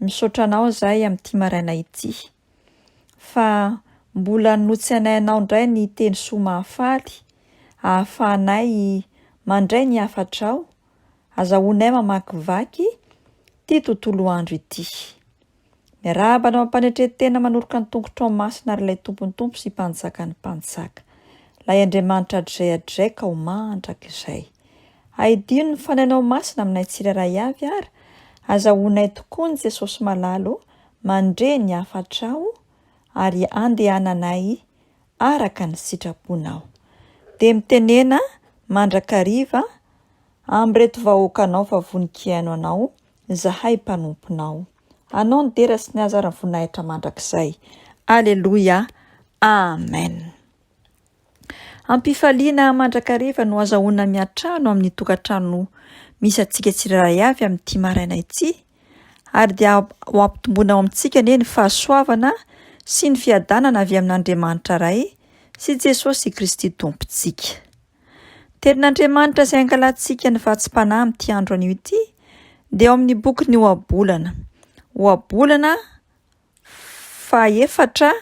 Misaotra anao izahay amin'ity maraina ity. Fa mbola notse anay anao indray ny teny soa mahafaly, ahafahanay mandray ny hafatrao, azahoanay mamakivaky ity tontolo andro ity. Miarahaba anao am-panetren-tena manoroka ny tongotrao masina ary ilay Tompon'ny Tompo sy Mpanjakan'ny Mpanjaka, ilay Andriamanitra hatrizay hatrizay ka ho mandrakizay. Ahidio ny Fanahinao Masina aminay tsirairay avy ary azahoanay tokoa ny Jesosy Malala o, mandre ny hafatrao ary andehananay araka ny sitraponao. Dia mitenena mandrakariva amin'ireto vahoakanao fa vonon-kiaino anao izahay mpanomponao. Anao ny dera sy ny haza ary ny voninahitra mandrakizay. Aleloia. Amen. Am-pifaliana mandrakariva no azahoana miantrano amin'ny tokantrano misy antsika tsirairay avy amin'ity maraina ity, ary dia ho ampitomboina ao amintsika anie ny fahasoavana sy ny fiadanana avy amin'Andriamanitra Ray sy Jesosy Kristy Tompontsika. Tenin'Andriamanitra izay angalantsika ny vatsim-panahy amin'ity andro anio ity dia ao amin'ny bokin'ny Ohabolana. Ohabolana Fahefatra,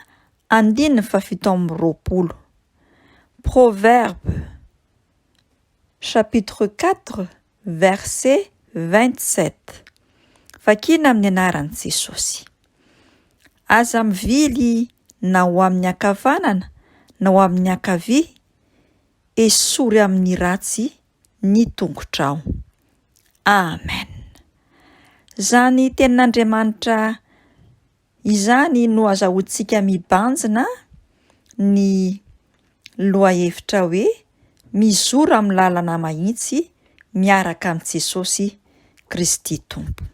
andininy fahafito amby roapolo. Proverbes chapitre quatre verset vingt sept. Vakina amin'ny anaran'i Jesosy. Aza mivily na ho amin'ny ankavanana na ho amin'ny ankavia, esory amin'ny ratsy ny tongotrao. Amen. Izany tenin'Andriamanitra izany no azahoantsika mibanjina ny lohahevitra hoe mizora amin'ny lalana mahitsy miaraka amin'i Jesosy Kristy Tompo.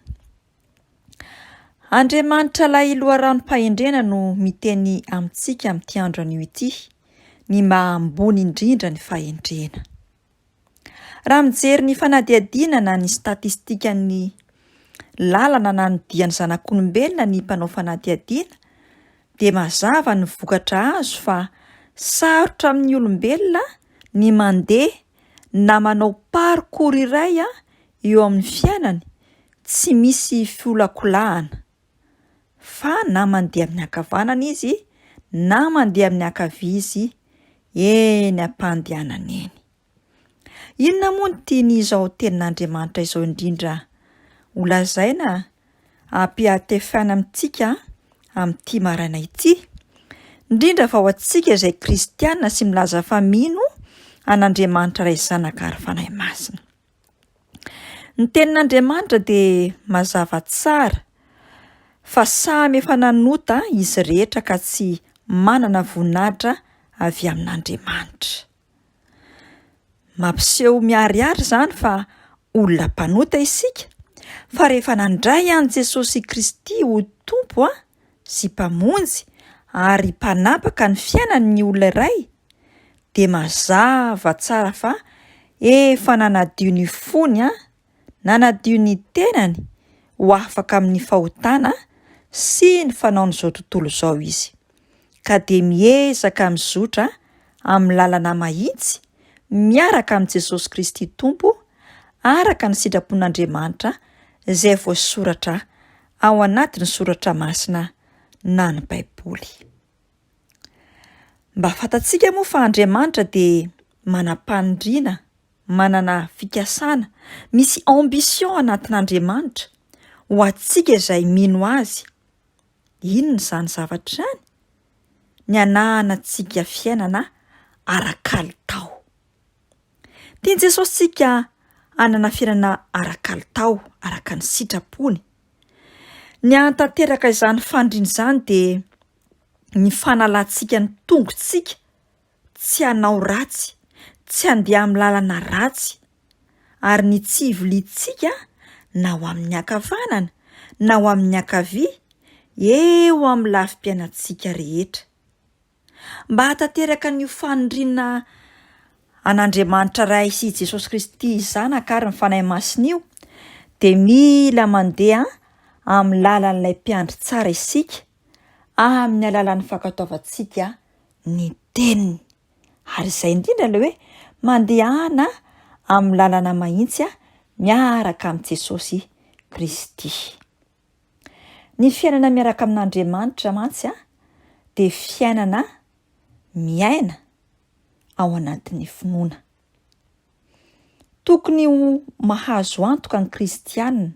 Andriamanitra Ilay loharanom-pahendrena no miteny amintsika amin'ity andro anio ity ny maha ambony indrindra ny fahendrena. Raha mijery ny fanadihadiana na ny statistikan'ny lalana na ny dian'ny zanak'olombelona ny mpanao fanadihadiana dia mazava ny vokatra azo fa sarotra amin'ny olombelona ny mandeha na manao parcours iray Eo amin'ny fiainany, tsy misy fiolakolahana, fa na mandeha amin'ny ankavanana izy na mandeha amin'ny ankavia izy, eny am-pandehanana eny. Inona moa no tian'izao Tenin'Andriamanitra izao indrindra holazaina ampihatefaina amintsika amin'ity maraina ity, indrindra fa ho antsika izay kristiana sy milaza fa mino an'Andriamanitra Ray, Zanaka ary Fanahy Masina? Ny tenin'Andriamanitra dia mazava tsara fa samy efa nanota izy rehetra ka tsy manana voninahitra avy amin'Andriamanitra. Mampiseho miharihary izany fa olona mpanota isika, fa rehefa nandray an'i Jesosy Kristy ho Tompo, sy Mpamonjy ary Mpanapaka ny fiainany ny olona iray, dia mazava tsara fa efa nanadio ny fony, nanadio ny tenany ho afaka amin'ny fahotana sy ny fanaon'izao tontolo izao izy, ka dia miezaka mizotra amin'ny lalana mahitsy miaraka amin'i Jesosy Kristy Tompo, araka ny sitrapon'Andriamanitra izay voasoratra ao anatin'ny soratra masina na ny Baiboly. Mba fantatsika moa fa Andriamanitra dia manam-paniriana, manana fikasana, misy ambition anatin'Andriamanitra ho antsika izay mino azy. Inona izany zavatra izany? Ny hananantsika fiainana ara-kalitao. Tian'i Jesosy tsika hanana fiainana ara-kalitao araka ny sitrapony. Ny hahatanteraka izany faniriana izany dia ny fanalantsika ny tongotsika tsy hanao ratsy, tsy handeha amin'ny lalana ratsy ary ny tsy hiviliantsika na ho amin'ny ankavanana na ho amin'ny ankavia eo amin'ny lafim-piainantsika rehetra. Mba hahatanteraka an'io faniriana an'Andriamanitra Ray sy i Jesosy Kristy Zanaka ary ny Fanahy Masina io, dia mila mandeha amin'ny lalan'ilay Mpiandry tsara isika, amin'ny alalan'ny fankatoavantsika ny Teniny. Ary izay indrindra ilay hoe mandehana amin'ny lalana mahitsy miaraka amin'i Jesosy Kristy. Ny fiainana miaraka amin'Andriamanitra mantsy dia fiainana miaina ao anatin'ny finoana. Tokony ho mahazo antoka ny kristianina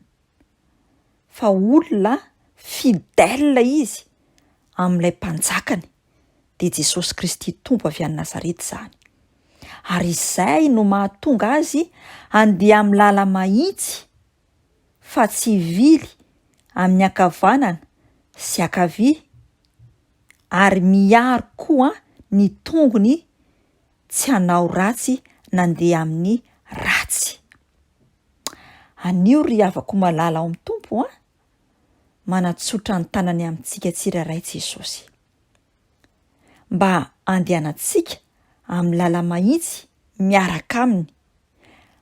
fa olona fidèle izy amin'ilay mpanjakany, dia Jesosy Kristy Tompo avy any Nazareta izany. Ary izay no mahatonga azy handeha amin'ny làla-mahitsy fa tsivily amin'ny ankavanana sy ankavia ary miaro koa ny tongony tsy hanao ratsy nandeha amin'ny ratsy. Anio ry havako malala ao amin'ny Tompo a! manatsotra ny tanany amintsika tsirairay Jesosy mba handehanantsika amin'ny lala-mahitsy miaraka aminy.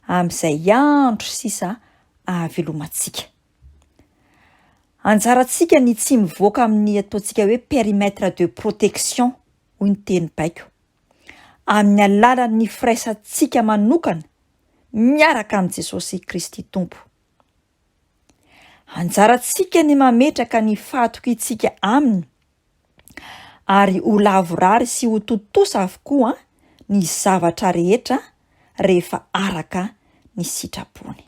amin'izay andro sisa ahavelomantsika. Anjarantsika ny tsy mivoaka amin'ny ataontsika hoe périmètre de protection, hoy ny teny baiko, amin'ny alalan'ny firaisantsika manokana miaraka amin'i Jesosy Kristy Tompo. Anjarantsika ny mametraka ny fahatokiantsika aminy ary ho lavorary sy ho tontosa avokoa ny zavatra rehetra rehefa araka ny sitrapony.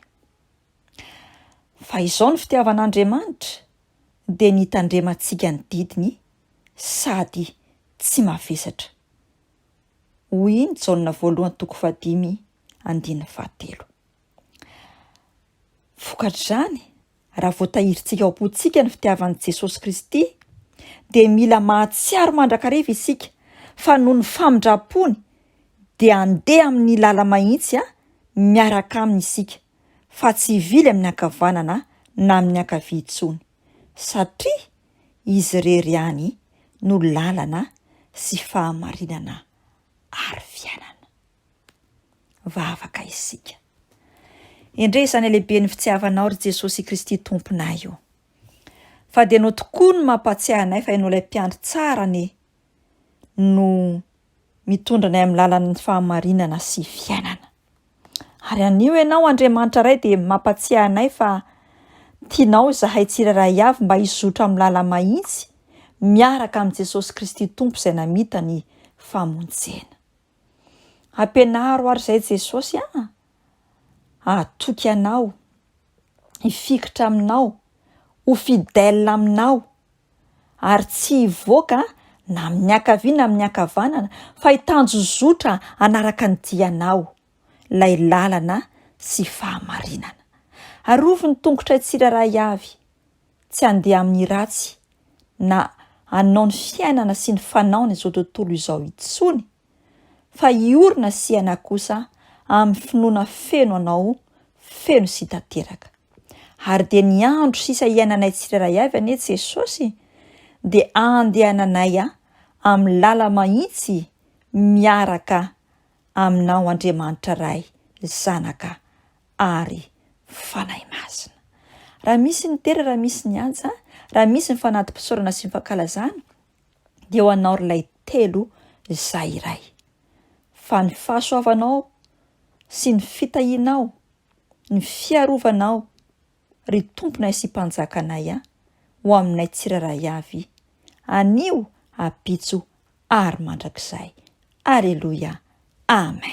Fa izao ny fitiavan'Andriamanitra dia ny hitandremantsika ny didiny sady tsy mavesatra. Hoy i Jaona voalohany toko fahadimy andininy fahatelo. Vokatr'izany, raha voatahirintsika ao am-pontsika ny fitiavan'i Jesosy Kristy, dia mila mahatsiaro mandrakariva isika fa noho ny famindram-pony dia handeha amin'ny lala-mahitsy miaraka Aminy isika, fa tsy hivily amin'ny ankavanana na amin'ny ankavia intsony, satria Izy irery ihany no lalana sy fahamarinana ary fiainana. vavaka isika. Endrey izany halehiben'ny fitiavanao ry Jesosy Kristy Tomponay o! Fa dia ianao tokoa no mampahatsiahy anay fa ianao ilay mpiandry tsara anie no mitondra anay amin'ny lalan'ny fahamarinana sy fiainana. Ary anio ianao Andriamanitra Ray dia mampatsiahy anay fa tianao izahay tsirairay avy mba hizotra amin'ny lala-mahitsy miaraka amin'i Jesosy Kristy Tompo izay namita ny famonjena. Ampianaro ary izay Jesosy a! Hatoky Anao, hifikitra Aminao, ho fidèle Aminao, ary tsy hivoaka na amin'ny ankavia na amin'ny ankavanana fa hitanjozotra hanaraka ny dianao, ilay lalana sy fahamarinana. Arovy ny tongotray tsirairay avy, Tsy handeha amin'ny ratsy na hanao ny fiainana sy ny fanaony izao tontolo izao intsony fa hiorina sy hiaina kosa amin'ny finoana feno anao feno sy tanteraka. Ary dia ny andro sisa hiainanay tsirairay avy anie Jesosy dia andehananay amin'ny lala mahitsy miaraka Aminao Andriamanitra Ray, Zanaka ary Fanahy Masina. Raha misy ny tera, raha misy ny antsa, raha misy ny fanati-pisaorana sy ny fankalazana, dia ho anao ry lay telo izay iray. Fa ny fahasoavanao sy ny fitahianao, ny fiarovanao, ry Tomponay sy Mpanjakanay a, ho aminay tsirairay avy, anio, abitso ary mandrakizay. Aleloia. Amen.